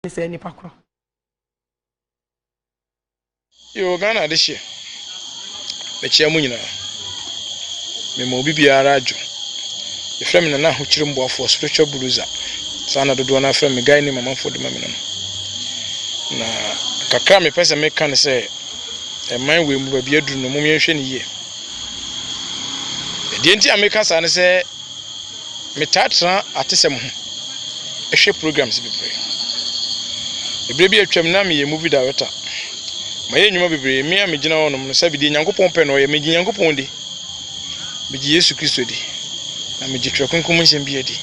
ne saa nnipa korɔ. Yoo Ghana adehyeɛ mekyea mo nyinaa mema obi biara adwo yɛfrɛ me Nana Ahokyere Mboafoɔ spiritual bulldozer saa na dodoɔ no ara frɛ me guy name amanfoɔ de ma me no no na kakra a mepɛ sɛ meka ne sɛ ɛman wei mu baabi aduru no mom yɛnhwɛ ne yie ɛdeɛ nti a meka saa ne sɛ Metaa tena atesɛm ho hwɛ programs bebree. Bere bi a atwam na meyɛ movie director. Mayɛ nnwuma bebree. Me a megyina hɔnom no, sɛbe deɛ Nyankopɔn pɛ na ɔyɛ. Megye Nyankopɔn di. Megye Yesu Kristo di. Na megye Twerɛ Kronkron mu nsɛm biara di.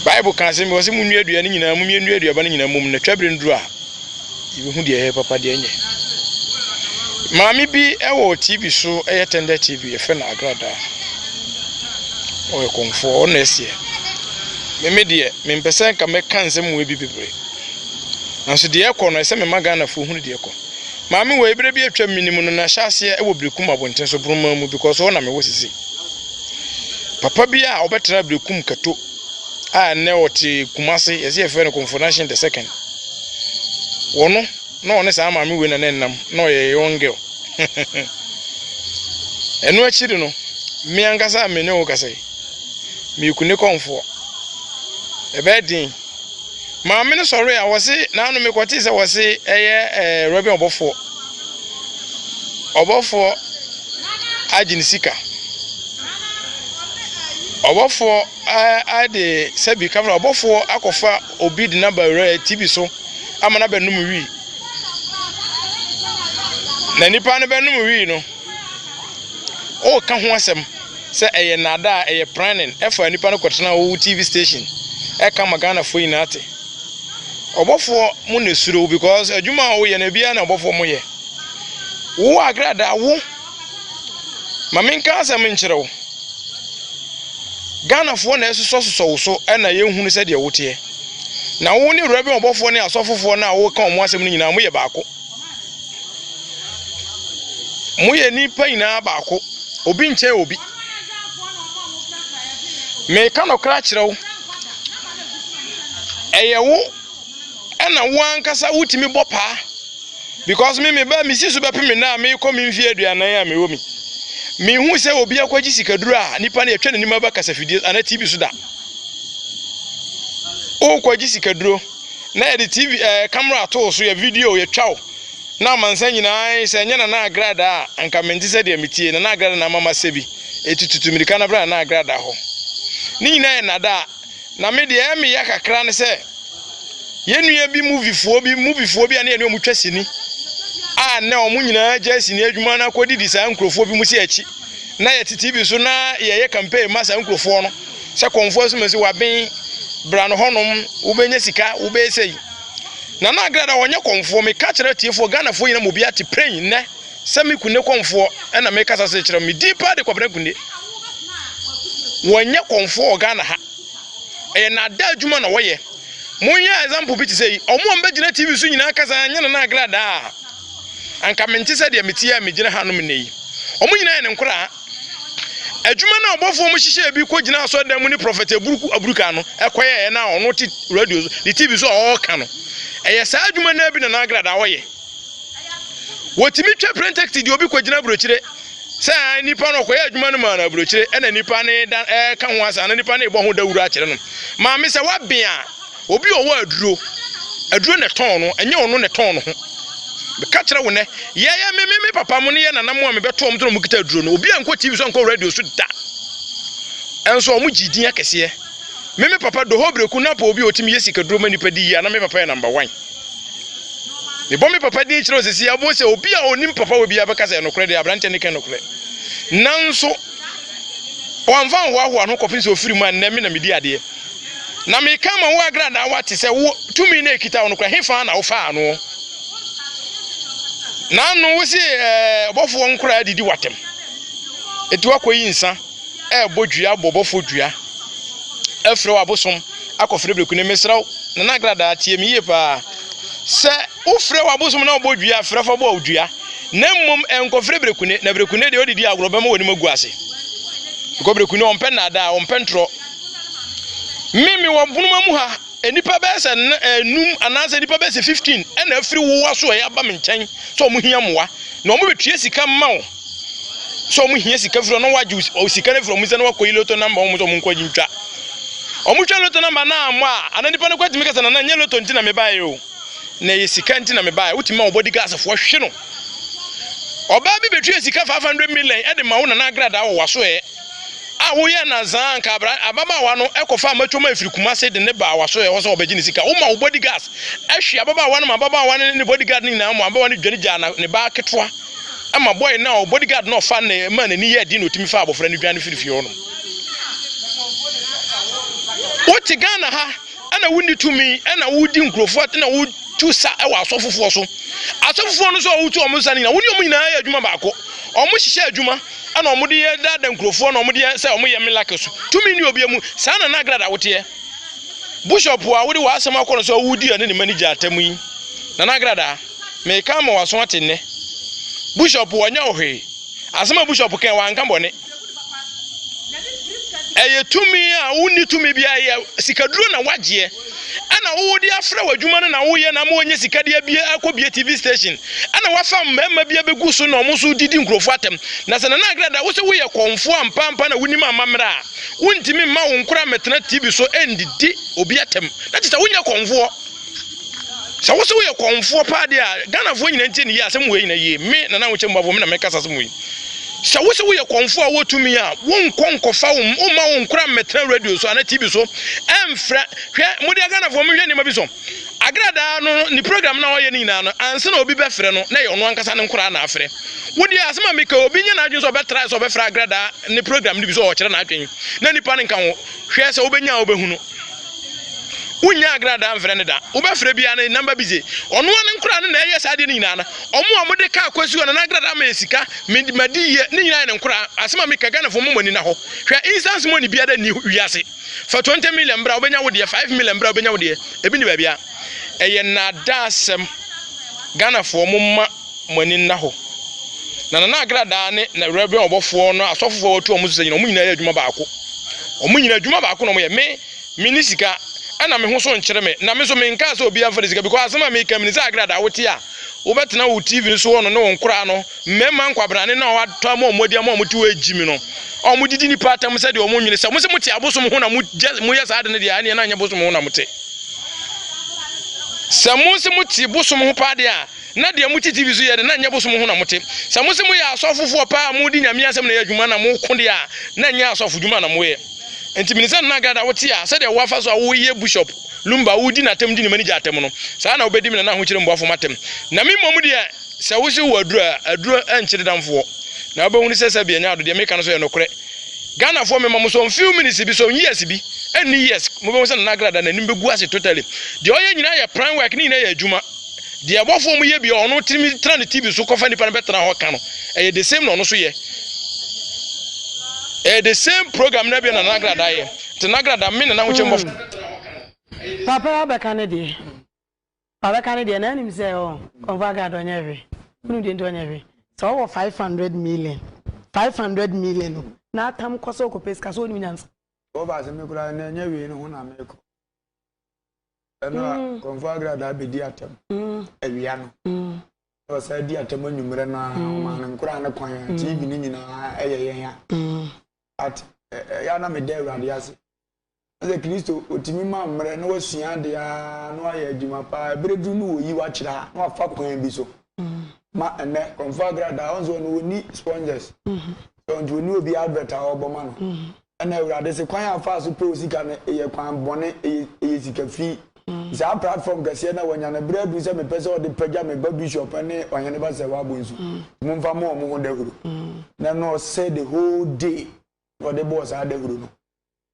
Bible ka asɛm bi, ɔse, Monnua dua no nyinaa, monyɛ nnua aduaba no nyinaa mmom, na twabere no duru a, yɛbɛhu deɛ ɛyɛ papa deɛ ɛnyɛ maame bi wɔ tv so ɛyɛ tender tv yɛfrɛ no agradaa ɔyɛ kɔmfoɔ ɔno ɛseɛ meme deɛ mempɛ sɛ nka mɛka nsɛm mu bi bebree nanso deɛ ɛkɔ no ɛsɛ mema ghanafoɔ hunu deɛ ɛkɔ maame wɔ ɛberɛ bi atwa mene mu no na hyɛ aseɛ ɛwɔ berekum abɔnten so boroma mu because ɔna mewɔ sisi papa bi a ɔbɛtena berekum kato a nnɛ ɔte Kumase, yɛse yɛfrɛ no Komfonanshin the second. Wɔ no, na ɔne saa maame wei na na ɛnam, na ɔyɛ a young girl. Ɛno akyiri no, me ankasa a me ne wo kasa yi, meyɛ Kune Kɔmfoɔ. Ɛbɛyɛ den. Maame no sɔre a, wɔse n'ano mekɔtee sɛ wɔse ɛyɛ ɛɛ Reverend Ɔbɔfoɔ. Ɔbɔfoɔ agye ne sika. Ɔbɔfoɔ de sɛbi kama na ɔbɔfoɔ akɔfa obi de no aba wura TV so ama no abɛnom wii. Na nipa no bɛnom wii no, ɔreka ho asɛm sɛ ɛyɛ nnaadaa, ɛyɛ planning ɛfa nipa no kɔtena wo TV station ɛka ma Ghanafoɔ nyinaa te. Ɔbɔfoɔ mo na ɛsuro wo because adwuma a woyɛ no ebiara na ɔbɔfoɔ mo yɛ. Wo agradaa wo. Ma menka asɛm nkyerɛ wo. Ghanafoɔ na ɛsosɔsosɔ wo so na yɛhunu sɛdeɛ woteɛ. Na wo ne wura bi ɔbɔfoɔ ne asɔfofoɔ no a woka wɔn asɛm no nyinaa moyɛ baako. Moyɛ nnipa nyinaa baako. Obi nkyɛn obi. Mereka nokorɛ akyerɛ wo, ɛyɛ wo ɛna wo ankasa wotumi bɔ paa because me meba mesi so bɛpem nna a mekɔ me mfie aduanan a mewɔ mi mehu sɛ obi akɔgye sikaduro a nipa no yɛtwa n'anim aba kasafidie anaa tv so da wokɔgye sikaduro na yɛde tv ɛɛ eh, kamera ato so yɛ video yɛtwa wo Na amansan nyinaa ae, sɛ ɛnyɛ Nana Agrada a, anka mente sɛdeɛ metie, Nana Agrada na ama masɛ bi, eti tutu mirika na bra Nana Agrada hɔ. Ne nyinaa yɛ nnadaa, na me deɛ ɛyɛ me ya kakra ne sɛ, yɛn nua bi movifoɔ bi, movifoɔ bi a ne yɛne wɔn twa sini, a nnɛ wɔn nyinaa agyae sini adwuma no akɔdidi saa nkurɔfoɔ bi mu sɛ akyi, na yɛte TV so na yɛyɛ campaign ma saa nkurɔfoɔ no, sɛ Kɔmfoɔ Asumasi, waben, bra no hɔnom, wobɛnya sika, wobɛyɛ sei. Nana Agrada ɔnyɛ kɔmfoɔ, meka kyerɛ atiefoɔ, Ghanafoɔ nyinaa ma obiara te pɛn nnɛ sɛ me Kunde kɔmfoɔ na mekasa sɛ kyerɛ me din paa de Kwabena Kunde. Wɔnyɛ kɔmfoɔ wɔ Ghana ha. Ɛyɛ nada adwuma na wɔyɛ. Monyɛ example bi te sɛ yi, ɔmo a mbɛgyina TV so nyinaa kasa anyɛ Nana Agrada a, anka mente sɛ deɛ mete a megyina hanom nnɛ yi. Ɔmo nyinaa yɛ ne nkoraa. Adwuma no a ɔbɔfoɔ mu hyehyɛɛ bi kɔ gyinaa asɔredan mu ne Prɔfɛt Aburuku Aburuka no kɔ yɛeɛ no a ɔno te radio so ne TV so a ɔɔka no. Ɛyɛ saa adwuma no ara bi na na Agradaa ɔyɛ. Wɔtumi twa prɛntɛkiti deɛ obi kɔ gyina aburokyire sɛ ae nipa no ɔkɔyɛ adwuma no maa no aburokyire ɛna nipa no ɛɛka ho asɛm ana nipa no ɛɛbɔ ho dawuro akyerɛ no. Maame sɛ wabea. Obi a ɔwɔ aduro, aduro na ɛtɔn no, ɛnyɛ ɔno na ɛtɔn ne ho. Meka kyerɛ wo nɛ, yɛyɛ me me me papa mo ne yɛ nana mo a mebɛto wɔn tena wɔn kita aduro no. Obi a nkɔ TV so nkɔ radio so da. Ɛnso wɔn gye din akɛseɛ. Me me papa Doho Breku Napa obi a ɔtumi yɛ sika duro ma nipa di yie a na me papa yɛ number one. Mebɔ me papa din kyerɛ wo sisi abo sɛ obi a ɔnim papa wɔ biara bɛka sɛ ɛnokorɛ deɛ aberanteɛ ne kɛ nokorɛ. Nanso wɔmfa nhoahoa no kɔpem sɛ ɔfiri mu a nnɛ me na medi adeɛ. Na meka ama wo agradaawa te sɛ wo tumi no a ɛkita wo no kora, hefa ara na wofaa no? Na ano wo se ɔbɔfoɔ nkoraa adidi w'atam. Ɛti wakɔyi nsa ɛrebɔ dua abɔ ɔbɔfoɔ dua, afiri wo abosom akɔfrɛ breku ne mesrɛ wo, na na agradaa tie me yie paa. Sɛ wofrɛ wo abosom na ɔbɔ dua frɛ fa bɔ dua, na mmom ɛnkɔfrɛ breku ne, na breku ne deɛ ɔdidi agorɔ bɛma w'anim agu ase. Because breku ne ɔmpɛ nnaadaa, ɔmpɛ ntorɔ. Me mewɔ mpoma mu ha, nnipa bɛyɛ sɛ nnum eh, anaasɛ nnipa bɛyɛ sɛ 15 ɛna afiri wo asoɛ aba me nkyɛn sɛ wɔn hia mmoa na wɔn bɛtua sika mma wo sɛ wɔn hia sika firi na wɔagye wo sika no firi wɔn nsɛ na wɔakɔyi loto namba wɔn sɛ wɔn nkɔ gye ntwa wɔn twa loto namba na ammɔ a ana nipa no kɔ atumi kasa na na nyɛ loto nti na mebaeɛ o na ɛyɛ sika nti na mebaeɛ wotumi ma wɔbɔdi gaasefoɔ hwe no ɔbaa bi bɛtua sika 500 million ɛde ma wo nana agradaa wɔ wasoɛ a woyɛ nansa a nka abra ababaawa no kɔfa amatuo ma ɛfiri Kumase de ne baa w'aso ɛhɔ sɛ ɔbɛgye ne sika woma wo body gas hwe ababaawa no ma ababaawa no ne ne body guard no nyinaa ma ababaawa no dwane gyaa na ne baa ketewa ma boy no a body guard no ɔfa ne ma n'ani yɛ den na ɔtumi fa abɔfra no dwane firi fie hɔ nom wote Ghana ha ɛna wonni tumi ɛna wodi nkurɔfoɔ ɛna wodi tu sa wɔ asɔfofoɔ so asɔfofoɔ no nso a wotu wɔn nsa no nyinaa wo ne wɔn nyinaa yɛ adwuma baako wɔn hyehyɛ adwuma ɛna wɔn de yɛ dada nkurɔfoɔ na wɔn de yɛ sɛ wɔn yɛ miracles tumi ni obi mu saa na n'agrad awoteɛ bishop a wode w'asɛm akɔ no sɛ ɔwodi ɛne ne manager atam yi na n'agrad a meka ama w'aso ate nnɛ bishop wɔnyɛ wo hwee asɛm a bishop kɛn wanka bɔne ɛyɛ tumi a wonni tumi biara yɛ sikaduro na wagyeɛ ɛna wowɔ de afra w'adwuma no na woyɛ na ama wɔnyɛ sika de abie akɔbie tv station ɛna wafa mmarima bi abɛgu so na wɔn nso didi nkurɔfoɔ atɛm na sɛ nana agrada wo sɛ woyɛ kɔnfoɔ ampaampa na wonim amammerɛ a wontumi mma wo nkora mɛtena tv so ɛndidi obi atɛm na kyɛ sɛ wonyɛ kɔnfoɔ sɛ wo sɛ woyɛ kɔnfoɔ paa deɛ a ghanafoɔ nyina ntie ne yie asɛm wei nyina yie me nana wo kyɛ mmuafoɔ me na mɛkasa asɛm wei Sɛ wose woyɛ kɔmfoɔ a wotumi a, wonkɔ nkɔfa wo mma wo nkora mmɛtena radio so anaa TV so ɛmfrɛ. Hwɛ, mode Ghanafoɔ monhwɛ nneɛma bi so. Agradaa no ne program no a ɔyɛ no nyinaa no, ansa na obi bɛfrɛ no, na ɛyɛ ɔno ankasa ne nkora na afrɛ. Wo deɛ, asɛm a meka yi, obi nyɛ n'adwene sɛ ɔbɛtrae sɛ ɔbɛfrɛ Agradaa ne program no bi sɛ ɔrekyerɛ n'adwene, na nnipa no nka ho. Hwɛ sɛ wobɛnya a wobɛhunu. Wonnya agradaa mfrɛ no da. Wobɛfrɛ biara no, namba bi gye. Ɔno ara ne nkoraa no na ɛyɛ saa adeɛ no nyinaa no. Ɔmo a wɔde kaa Kwasi hɔ no, n'agradaa ma yɛ sika, me de madi yie, ne nyinaa yɛ ne nkoraa. Asɛm a meka, Ghanafoɔ moma mo ani na hɔ. Hwɛ, instance money biara nni wiase. Fa 20 million bra, wobɛnya wo deɛ, 5 million bra, wobɛnya wo deɛ. Ebi nni baabiara. Ɛyɛ nnaadaasɛm. Ghanafoɔ momma. mo ani nna hɔ. Na Nana Agradaa ne na Reverend ɔbɔfoɔ no asɔfofoɔ a wɔatu wɔn so sɛ nyina wɔn nyinaa yɛ adwuma baako. Wɔn nyina adwuma baako na wɔyɛ. Me, menni sika ɛna me ho so nkyere me. Na me nso menkaa sɛ obiara mfa ne sika because asɛm a meka menim sɛ Agradaa wote a wobɛtena wo TV no so hɔ no ne wo nkoraa no, mmarima nkwabrane no a wɔatɔ ama wɔn adi ama wɔte hɔ regye me no, a wɔdidi nnipa atam sɛdeɛ wɔn nwene sɛ mose mote abosom ho na mogyɛ moyɛ saa ade no deɛ ɛneɛ na nyɛ bosom ho na mote. Sɛ mose mote bosom ho paa deɛ a, na deɛ mote TV so yɛ de, na ɛnyɛ bosom ho na mote. Sɛ mose moyɛ asɔfofoɔ paa a mode Nyame asɛm na ɛyɛ adwuma na moko deɛ a, na ɛnyɛ asɔfodwuma na moyɛ. Enti mene sɛ Nana Gada wote a, sɛdeɛ wo afa so a woyɛ Bushop Lumba wodi n'atɛm di ne manigya atɛm no, saa ara na wobɛdi me Nana Ahokyere Mboafo m'atɛm. Na me mmom deɛ, sɛ wose wowɔ aduro a, aduro nkyere damfoɔ. Na wobɛhunu sɛ sɛbea nyɛ ado, deɛ meka no nso yɛ nokorɛ. Ghanafoɔ mema mo so few minutes bi, so years bi, ɛnni years, mobɛhunu sɛ Nana Grada n'anim bɛgu ase totally. Deɛ ɔyɛ nyinaa yɛ pran work, ne nyinaa yɛ adwuma. Deɛ abɔfoɔ no yɛ bi a ɔno tumi tena ne TV so kɔfa nipa no bɛtena hɔ ka no, ɛyɛ the same na ɔno so yɛ. Ɛyɛ the same program na bi na nagrada yɛ. Nti nagrada me ne n'ahokyɛ mbɔfo. Mm. Papa ya bɛka ne deɛ. Wabɛka ne deɛ na anim sɛ ɔ kɔnfɔ agrada ɔnyɛ hwe. Wonu deɛ nti ɔnyɛ hwe. Sɛ ɔwɔ 500 million. 500 million no. Na atam kɔ sɛ ɔkɔpɛ sika sɛ ɔnim nyansa. Ɔba sɛ me koraa na ɛnyɛ wei no ho na mekɔ. ɛna kɔnfɔ agrada abɛdi atɛm awia no na ɔsan adi atɛm anwummerɛ no a ɔmaa no nkoraa ne kwan a tv no nyinaa ɛyɛ yɛn a at ɛyɛ ana meda awurade ase sɛ kristo ɔtumi ma mmerɛ na wasua adeɛ a na wayɛ adwuma paa ɛberɛ duru no wɔyi wakyerɛ a na wafa kwan bi so ma ɛnɛ kɔnfɔ agrada ɔnso ɔno wɔni sponges sɛ ɔnti wɔni obi advert a ɔbɔ ma no Ɛna awurade se kwan a ɔfaa so pɛw sika no yɛ kwan bɔne, ɛyɛ sika fi. Saa platform kɛseɛ no a wanya no berɛ aduru sɛ mepɛ sɛ ɔde pagya me ba bishop ne ɔhene ba sɛ w'abonsu momfa mmɔ wɔn ho dahuro. Na ɛna ɔsɛ the whole day na ɔde bɔɔ saa dahuro no.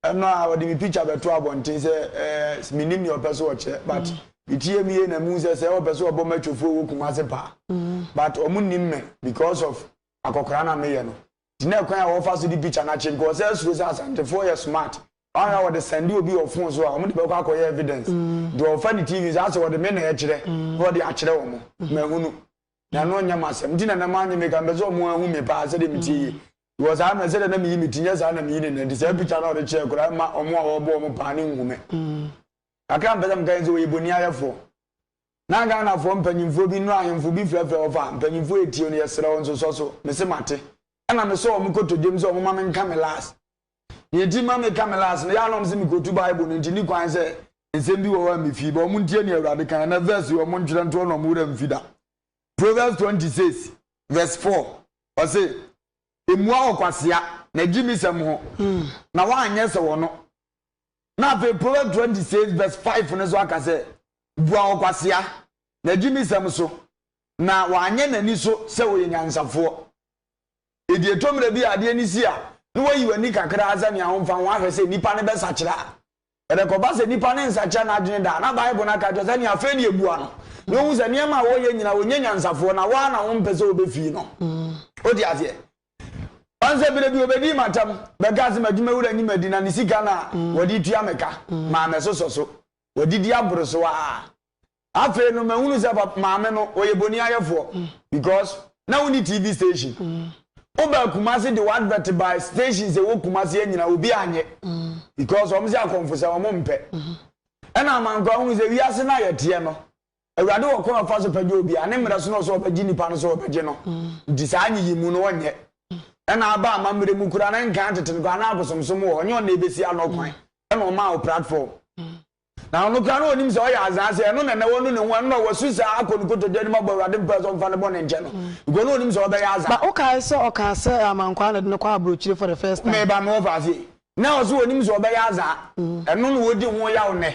Ɛno a ɔde me picture bɛto abɔnten sɛ eh, menim nea ɔpɛ so ɔkyɛ but metie mu yie na mehu sɛ sɛ ɔpɛ so ɔbɔ matwofoɔ wɔ Kumase paa but ɔmo nim me because of akɔkora no a meyɛ no. gyina kwan a wɔfa so di picture no akyi because ɔsɛ suro sɛ Asantefoɔ yɛ smart wɔn a wɔde sɛnde obi wɔ phone so a wɔn de bɛkɔ akɔyɛ evidence deɛ ɔfa ne TV nso asɛ wɔde me na ɛkyerɛ na wɔde akyerɛ wɔn mahunu na ɛno nyɛ masɛm nti na nam anyɛ me ka mpɛ sɛ wɔn ahu me paa sɛdeɛ me tie yie because ayɛ mɛ sɛdeɛ na meyi me ti nyɛ saa na meyi ne nadi saa picture na ɔde kyerɛ koraa ɛma wɔn a wɔbɔ wɔn paa ne nhu me kakra mpɛ sɛ meka yɛn sɛ wɔyɛ boni ayɛfoɔ Na Ghanafoɔ mpanyinfoɔ bi no ahemfo bi frɛfrɛ wɔn fa mpanyinfoɔ yɛ tie no yɛsrɛ wɔn nsosɔ so me se mate ɛna me sɔ wɔn kotodwem sɛ wɔn ma me nka me last nea enti ma me ka me last no yaa na wɔn se me kotu bible no nti ni kwan sɛ nsɛm bi wɔ hɔ a me fii ba wɔn ntie nea awurade kan ɛna verse yi wɔn ntwerɛ ntoɔ na wɔn wura mfi da Proverbs 26 verse 4 ɔse emua ɔkwasea na gyi mi sɛm ho hmm. na wɔanyɛ sɛ wɔn no Na afei Proverbs twenty six verse five no nso aka sɛ, Bua ɔkwasea, na di ne nsɛm so, na wanyɛ n'ani so sɛ ɔyɛ nyansafoɔ. Enti ɛtɔ mmerɛ bi a adeɛ no si a, na wayi w'ani kakra sɛ nea womfa ho ahwɛ sɛ nipa no bɛsakyera. Ɛrekɔba sɛ nipa no nsakyera n'adwene da a, na Bible no aka kyerɛ sɛ nea afei deɛ bua no, na ɔhu sɛ nneɛma a ɔreyɛ nyinaa ɔnyɛ nyansafoɔ, na wo ara na wompɛ sɛ wobɛfii no. Wote aseɛ? Ɔn sɛ bere bi obedii m'atam bɛkaa sɛ m'adwumawura nyi m'adi na ne sika no a wɔde tua me ka maa mɛsosɔ so. Wadidi aboro so ara. Afei no mahunu sɛ pap maame no ɔyɛ boniayɛfoɔ because na wonni TV station. Wobaa Kumasi de w'advert bae stations ɛwɔ Kumasi anyina obi anyɛ because wɔn se akɔmfosɛm wɔn mpɛ. Ɛna amankwaa hunu sɛ wiase no a yɛteɛ no Awurade wɔ kwan a ɔfa so pɛgya obiara, ne mmerɛ so na ɔsɛ ɔbɛgye nnipa no sɛ ɔbɛgye no, nti saa nyiyimu no ɔnyɛ. Ɛna aba amammerɛ mu koraa na nkan tete no koraa na akosomsom wɔ hɔ, nyɛ ɔno na ɛbɛsi ano kwan, ɛna ɔmaa wo platform. Na ɔno koraa na ɔnim sɛ ɔyɛ azaa sɛ ɛno na ɛnɛ wanu ne ho, ɛno na wasu saa akɔ ne kotodwe anim abɔ Awurade mpaeɛ sɛ ɔmfa ne bɔne nkyɛ no, because na ɔnim sɛ ɔbɛyɛ azaa. Ba wokae sɛ ɔkaa sɛ amankwaa na ɛde no kɔ abrokyire for the first time. Meba mewɔ fase. Na ɔse ɔnim sɛ ɔbɛyɛ azaa, ɛno na ɔdi ho yaw nnɛ.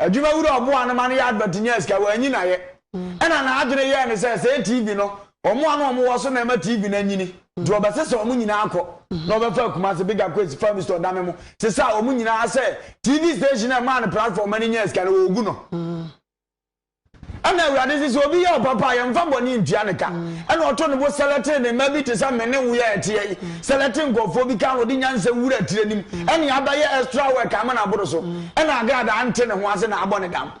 Adwumawura a ɔboaa no ma no yɛ advert nyaa sika, wanyi no ayɛ. Ɛnna n'adwene yɛɛ no sɛ, Sɛɛ TV no, wɔn a na wɔwɔ so na ɛma TV no anyini. Nti wɔbɛsesa wɔn nyinaa kɔ, na wɔbɛfa akuma ase, big aquates, fa mistɔ dame mu, sesaa wɔn nyinaa sɛ TV station a ɛmaa no platform ma no nyaa sika no, wɔregu no. Ɛnna Awurade se, Sɛ obi yɛ ɔpapa a, yɛmfa bɔne ntua no ka. Ɛnna ɔtoo ne bo sɛlɛtee ne mma bi te sɛ me ne wo yɛ ɛteɛ yi, sɛlɛtee nkurɔfoɔ bi kaa no, ɔde nyansa wura tire no mu. Ɛnna Abba yɛ extra work ama no aboro so. Ɛnna Agradaa nte ne ho ase na abɔ ne dam.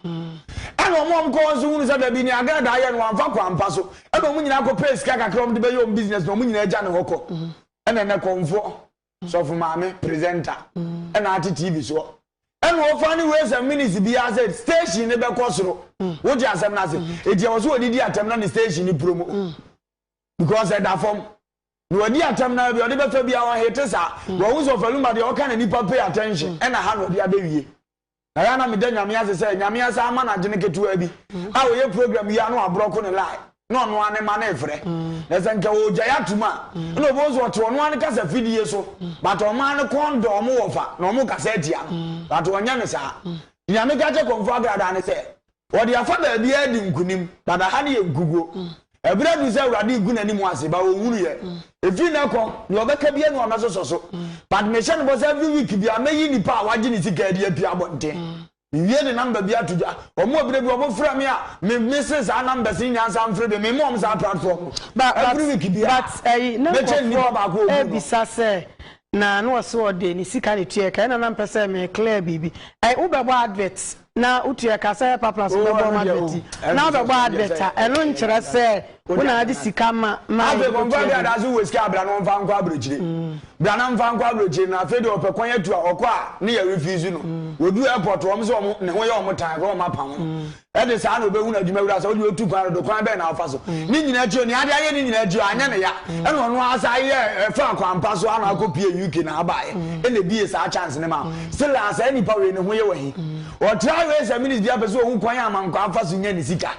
Ɛnna wɔn a wɔkɔɔ hɔ nso hunu sɛ dabi, nea Agradaa yɛ no, wamfa kwan pa so. Ɛnna wɔn nyinaa kɔpɛɛ sika kakra a wɔde bɛyɛ wɔn business, na wɔn nyinaa gya ne hɔ kɔ. Ɛnna nnɛ kɔmfoɔ. Sɔfo maame, presenter, ɛna ate TV soɔ. Ɛna ɔfa ne ways and minutes biara sɛ station ne bɛkɔ soro. Wote asɛm no ase? Eti ɛwɔ so ɔde di atɛm na ne station ne puro mu. Because ɛda fam. Na wadi atɛm na bi ɔde bɛfa biara ɔhete saa. Wɔhu sɛ ɔfaluma deɛ ɔka na nipa pay attention. Ɛna ha na ɔde abɛwie. na yɛ na meda nyame ase sɛ nyame asa ama no agyene ketewaa bi mm. a ɔyɛ program yi ano aborɔko ne lie na ɔno ane ma no ɛfrɛ mm. na sɛ nka ɔgya yɛ atom a mm. na ɔbɛhu sɛ ɔte ɔno ane kasa fidie so but ɔma no kɔn dɔ ɔmo wɔ fa na ɔmo kasa atia no but ɔnyɛ ne saa nyame ka kyɛ kɔmfo agradaa ne sɛ Wɔde afa baabiara adi nkonim, na na ha no yɛ nkuguo. Ɛberɛ aduru sɛ Awurade regu n'anim ase, but ɔnwuruiɛ. Ɛfiri nnɛ rekɔ, deɛ ɔbɛka biara na wɔbɛsosɔ so. But mehyɛ no bɔ sɛ every week biara, mɛyi nnipa a wɔagye ne sika adi apue abɔnten. Mewie de number bi ato dwa. Wɔn a berɛ bi wɔfrɛ me a, me, mese saa numbers no nyinaa nsan mfrɛ bio. Mema wɔn saa platform no. But, but, Every week biara, but, ɛyi, na mɛkyɛ nnipa baako a nkurɔfoɔ wɔbu no. ɛrebisa sɛ, na na ɔse ɔde ne sika na etua ɛka ɛna na mpɛ sɛ me clear biribi ɛɛ wo bɛbɔ advert na wotua ɛka sɛ ɛpa plus wo bɛbɔ ɔmo advert yi na wo bɛbɔ advert a ɛno nkyerɛ sɛ wo na ade sika ma ma afei kɔ nfa bi adaase wo wɔ sika abira na ɔnfa nkɔ aburokyire mm. bira na nfa nkɔ aburokyire na afei deɛ ɔpɛ kwan atu a ɔkɔ a ne yɛ refuse no mm. wɔduru airport wɔn sɛ wɔn ne ho yɛ wɔn tan kɔ wɔn apam no mm. Ɛde saa na ɔbɛhunu adwuma wura sɛ ɔdeɛ ɔtu kwan dodo kwan bɛn na ɔfa so. Ne nyina akyi onea ade ayɛ ne nyina akyi anyɛ ne ya ɛna ɔno ara san yɛɛ ɛfaa kwan pa so ana akɔ pie UK na abaaɛ ɛna ɛbiee saa chance no maa still a saa nipa wei ne ho yɛ wɔ he ɔtraa wei sɛ minutes biaa pɛ sɛ ɔhu kwan a ma nkwaa fa so nya ne sika.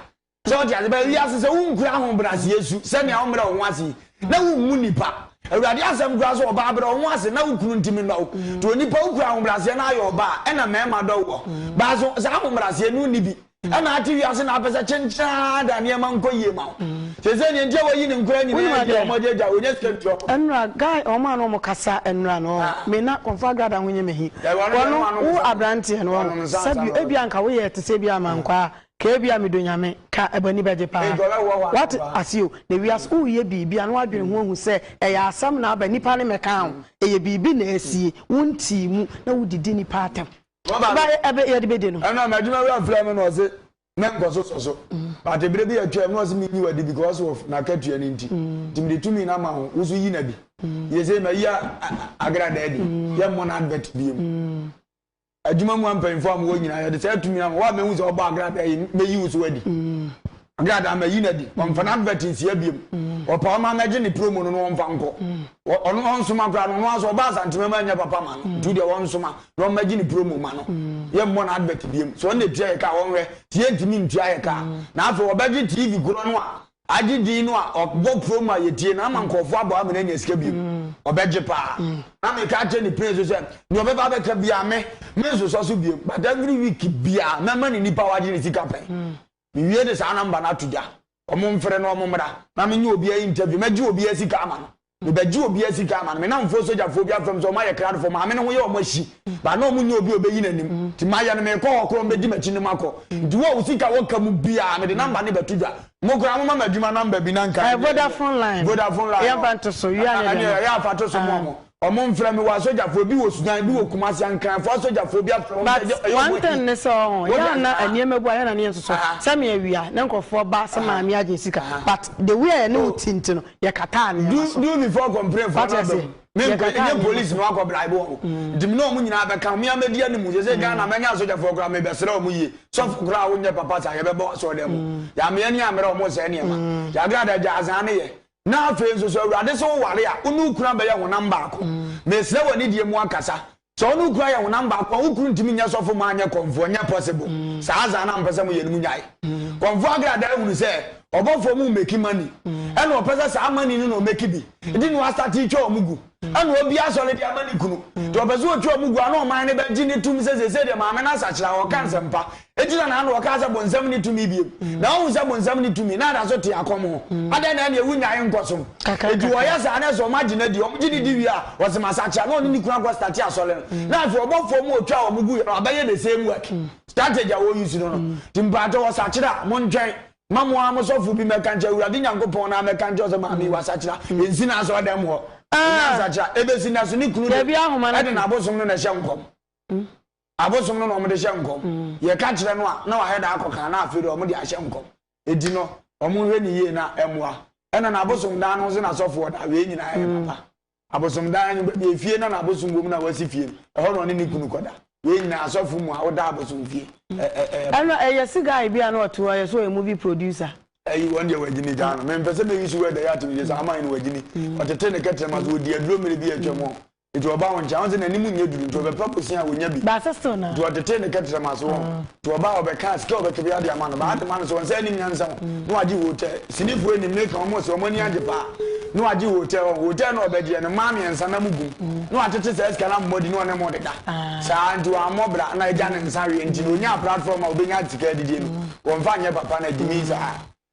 So wote ase? But wiase sɛ wonkura ahobrɛaseɛ su sɛnea wommrɛ wo ho ase yi na wommu nnipa. Awurade asɛm koraa sɛ ɔbaa brɛ wo ho ase na wo kunu nti menɔ wo. Nti onipa wo kura ahobraseɛ na ayɛ ɔbaa ɛna mɛɛma dɔ woɔ. Baa so saa ahobraseɛ no nni bi. Ɛna ate wiase na apɛsɛ kyenkyeraa da nneɛma nkɔ yie ma wo. Sɛsɛ neɛ nti a wayi ne nkora nyinaa adi a ɔmo agya gya ɔnya sika ntua ɔmo. Ɛnora guy ɔmo a na ɔmo kasa ɛnora no ɔho me na kɔmfo agrada ho nye me he. Wɔno wo abranteɛ no ɔho. Sɛbi ebia nka woyɛ te sɛ ebia amankwaa Kaa bi a me do Nyame. Ka ɛbɔ ani bɛgye paa wate ase o na wiase wo yɛ biribi a na wadwene ho ahu sɛ ɛyɛ asɛm na aba nnipa ne mɛkaa ho ɛyɛ biribi na asie wo ntii mu na wo didi nnipa atɛm ba ɛbɛ yɛde bɛdi no. Ɛna m'adwuma wura frɛ me na ɔse mɛ nkɔ so sɔ so but ɛberɛ bi atwam na ɔse me nyi wadi because of na akatua no nti nti mede tumi na ma ho wo so yi na bi yɛ sɛ ma yi a agra dɛ de yɛ mmɔ na advert bi mu. adwuma mu mpanyimfo a wɔwɔ nyinaa, yɛde saa tumi ama wo a mahu sɛ wɔbɔ agradaa yi, mayi wo so adi. Agradaa mayi no adi. Wɔmfa n'advert nsia biom. Wɔpaw ma no agye ne promo no na wɔmfa nkɔ. Ɔno ɔnsoma koraa no, ɔno ara so ɔba Asantema mu anyɛ papa ma no. Nti deɛ ɔnsoma na ɔmma gye ne promo ma no. Yɛmmɔ n'advert biom. Sɛ ɔno na ɛtua yɛ ka a, ɔnhwɛ sɛ yɛntumi ntua yɛ ka a. Na afei wɔbɛgye TV korɔ no a Agye din no a ɔbɔ pro ma yɛtie no ama nkurɔfoɔ abɔ ama no anya sika bio ɔbɛgye paa na meka kyerɛ ne pɛn so sɛ deɛ ɔbɛba abɛka biaa me mensosɔ so bio but every week biaa mɛma ne nipa wagye ne sika pɛn mewie de saa namba no ato gya ɔmo mfrɛ no ɔmo mmra na menyɛ obiaa interview mɛgye obiaa sika ama no Mebɛgye obi a sika ama no, me namfoɔ sogyafoɔ bi afrɛ me sɛ ɔmo ayɛ krado fɔ, maame no ho yɛ ɔmo ahyi, but na ɔmo nnya obi a ɔbɛyi n'anim, nti mayɛ no, meekɔ hɔ koraa ɔmo bɛdi m'akyi ne makɔ, nti wo a wo sika wɔ ka mu biaa mede number no bɛto dwa. Mo koraa mo ma me adwuma number bi na nka ɛnyɛ ɛyɛ Vodafone line no, Vodafone line yɛn no, fa nto so, wia ne deɛ ɛneɛ no, ɛyɛ a fa to so mo a mo, ɔmo mfrɛ me, wɔ asogyafoɔ, ebi wɔ Sudan, ebi wɔ Kumasi, Ankranfoɔ asogyafoɔ bi afrɛ ɔmo sɛ but ɛyɛ ɔmo one thing ahyi, ne sɛ ɔho, yɛ a na nneɛma bu a yɛ na ne yɛ nso so, sɛ me awia na nkorɔfoɔ ba sɛ maame agye sika, but the way a yɛne wo ti nti no, yɛkataa nneɛma so. do before kɔmprɛfoɔ no aba mu mempɛ ɛnyɛ polisi na wakɔ bribe wɔ mm. nti me ne ɔmo nyinaa bɛka me amɛdi anim sɛ sɛ mm. ghana mɛnya asogyafoɔ koraa mebɛsrɛ ɔmo yie sɔfo koraa wonyɛ papa saa yɛbɛbɔ asɔɔ dɛ mu mm. yɛameɛ ne amerɛ ɔmo sɛ nneɛma yɛagrada gya asaa ne yɛ na afei nso so awurade sɛ woware a wone wokura bɛyɛ honam baako mesrɛ wɔ ne deɛ mu akasa Sɛ ɔno kura yɛ honam baako a wo kunu ntumi nyɛ sɔfo mma anyɛ kɔmfoɔ ɛnyɛ possible saa adza na mpɛ sɛ mo yɛ no mo nyae kɔmfoɔ agra da ahunu sɛ ɔbɔfoɔ mo make money ɛna ɔpɛ sɛ saa money no na ɔmake bi nti na wastate twa ɔmo gu ɛna obi asɔre de ama ne kunu nti ɔpɛ sɛ ɔtwa ɔmo gu a na ɔman no bɛgye ne tum sɛ sɛsɛ deɛ maame no asakyera ɔka nsɛmpa Enti na n'ano ɔkaa sɛ bonsam nni tumi bio. Na ɔhu sɛ bonsam nni tumi, na da so te akɔm ho. Adɛn na ɛne wonnyae nkɔsom? Enti wɔyɛ saa, na ɛsɛ sɛ wɔagye no adi. Wɔgye no di wie a, wɔse masakyera, na ɔne ne kunu akɔ starte asɔre no. Na afei ɔbɔ fam a otwaa wɔn guiɛ no, wabɛyɛ the same work. Strategy a wɔ use no no. Nti mpaatɔ wɔsakyera a, montwɛn ma mo ara mo sɔfo bi mmɛka nkyerɛ, Awurade Nyankopɔn no ara mmɛka nkyerɛ wo sɛ maame yi wasakyera. Ɛnsi n'asɔredɛm hɔ. Ɔnyaa nsakyera. Ɛbɛsi nnɛ so, ne kunu de, ɛde n'abosom no na ɛhyɛ nkɔm. Abosom no na wɔde hyɛ nkɔm. Yɛka kyerɛ no a, na wayɛ dɛ akɔka, na afei deɛ wɔde ahyɛ nkɔm. Enti no, wɔnhwɛ no yie na ɛmmoa. Ɛnna n'abosom dan no nso na sɔfoɔ da. Wei nyinaa yɛ papa. Abosom dan no, baabi a efie na n'abosom wom na wasi fie no, ɛhɔ na ɔne ne kunu kɔda. Wei nyinaa, asɔfo mu a woda abosom fie, ɛ, ɛ, ɛyɛ papa. Ɛnna ɛyɛ se guy bi a na ɔte hɔ, ɛyɛ sɛ ɔyɛ movie producer. Ayi, wɔn deɛ wɔagyini gyaa no. Mempɛ sɛ mɛ use word a ɛyɛ atomgye saa, ama yɛn no, wɔagyini. Ɔtetee ne kɛtrɛma so, ɔdii aduro mmere bi a atwam hɔ. Nti ɔba wo nkyɛn a, ɔnse n'anim nyɛ duru, nti ɔbɛpɛ kosi a ɔnya bi. Baase still na. Nti ɔtetee ne kɛterɛ mu ase wɔn. Nti ɔba a, ɔbɛka a sika a ɔbɛka biara de ama no, baa de ma no so, ɔnse anim nyansa wɔn, na wagye hotel. Sinifoɔ anim no eka wɔn se wɔn ani agye paa, na wagye hotel wɔn, hotel no a ɔbɛgyeɛ no, mmaa mmiɛnsa na mo gum, na watete saa sika no abɔ adi na ɔne mo deda. Saa, nti wammɔ bra, na agya ne nsa aweɛ, nti na ɔnyaa platform a ɔbɛnya sika adidie no, wɔmfa nyɛ papa no, agyimii saa.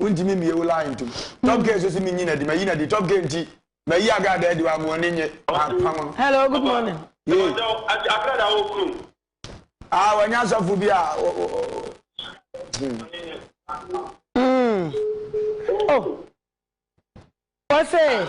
wontumi mmie wo line ntom top gay nso si menyi nadi mayi nadi top gay nti mayi agrada adi wamoɔne nye apam no hello good morning yee agrada wɔ kunu ah wɔnyɛ asɔfo bi a Mm. Oh. What's it?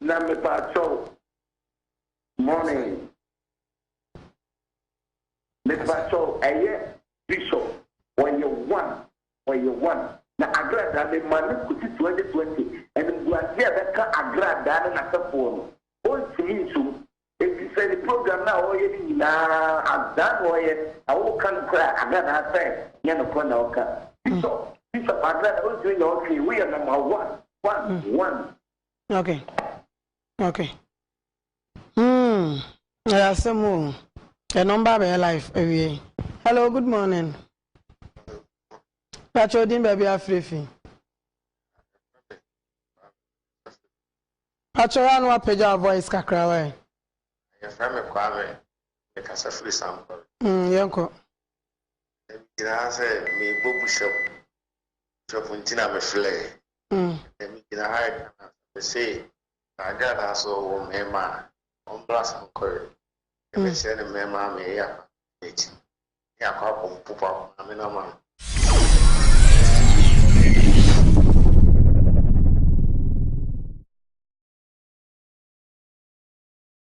Na mepaakyɛw, morning. Mepaakyɛw, ɛyɛ bishop, ɔyɛ one, ɔyɛ one. Na agradaa me ma no kosi 2020, animguase a ɛbɛka agradaa no n'asɛfoɔ no, ɔntumi nsom, efisɛ ne program no a ɔreyɛ no nyinaa, adaa na ɔreyɛ, na woka no koraa a, agradaa sɛ nyɛ nokorɛ na ɔka. Bishop, bishop, agradaa, ɔntumi nyɛ ɔhwee, woyɛ number one, one, one. Okay. Okay. Hmm. Ɛyɛ asɛm o. Ɛno mba bɛyɛ life awie. Hello, good morning. Pakyɛ odin baabi afirifi. Pakyɛ ya no apagya voice kakra wa ɛ. Yɛfrɛ me Kwame. Mekasa firi Sampɔre. Hmm, yɛnkɔ. Ɛgyinaa sɛ mebɔ bushap. Bushap nti na meflɛɛ. Mm. Ɛmi gyina ha ɛka na mese saa gradaa so wɔ mmarima a wɔn bra sa nkɔre. Ɛbɛhyɛ ne mmarima a meyɛ akwa n'akyi. Ne akɔ abɔ mpopo akɔ maame no ama no.